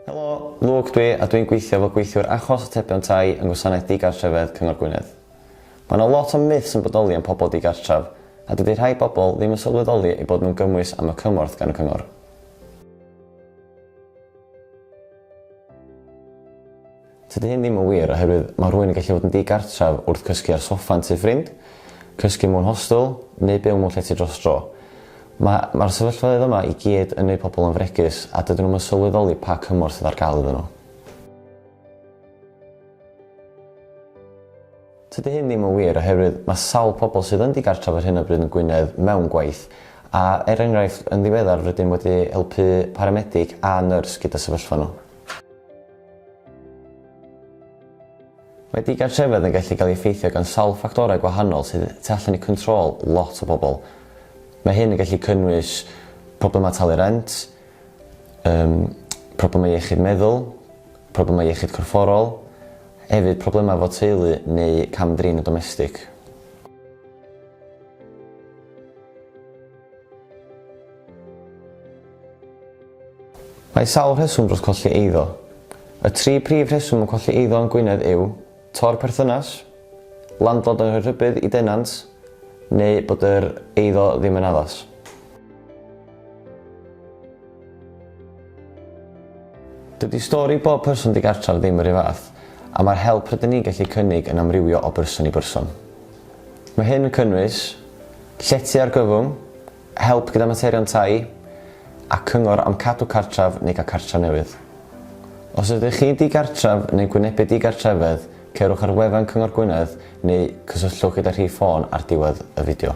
Helo, Luke dwi a dwi'n gweithio fel gweithiwr achos atebion tai yng Ngwasanaeth Digartrefedd Cyngor Gwynedd. Mae yna lot o myths yn bodoli am pobl digartref a dydy rhai bobl ddim yn sylweddoli eu bod nhw'n gymwys am y cymorth gan y cyngor. Tydi hyn ddim yn wir oherwydd mae rhywun yn gallu bod yn ddi-gartref wrth gysgu ar soffa yn tŷ ffrind, cysgu mewn hostel, neu byw mewn llety dros dro. Mae, mae'r sefyllfaoedd yma i gyd yn gwneud pobl yn fregus a dydyn nhw'm yn sylweddoli pa cymorth sydd ar gael iddyn nhw. Tydi hyn ddim yn wir oherwydd mae sawl pobl sydd yn di-gartref ar hyn o bryd yn Gwynedd mewn gwaith, a, er enghraifft, yn ddiweddar rydym wedi helpu paramedig a nyrs gyda sefyllfa nhw. Mae digartrefedd yn gallu cael ei effeithio gan sawl ffactorau gwahanol sydd tu allan i control lot o bobl. Mae hyn yn gallu cynnwys problemau talu rent, um, problemau iechyd meddwl, problemau iechyd corfforol, hefyd problemau fod teulu neu cam-drin y domestig. Mae sawl rheswm dros colli eiddo. Y tri prif rheswm o colli eiddo yn Gwynedd yw, tor perthynas, landlord yn rhoi rhybudd i denant, neu bod yr eiddo ddim yn addas. Dydy stori bob person digartraf ddim yr un fath, a mae'r help rydyn ni'n gallu cynnig yn amrywio o berson i berson. Mae hyn yn cynnwys llety argyfwng, help gyda materion tai, a cyngor am cadw cartref neu gael cartref newydd. Os ydych chi'n digartref neu'n gwynebu digartrefedd, cerwch ar wefan Cyngor Gwynedd neu cysylltwch gyda rhif ffôn ar diwedd y fideo.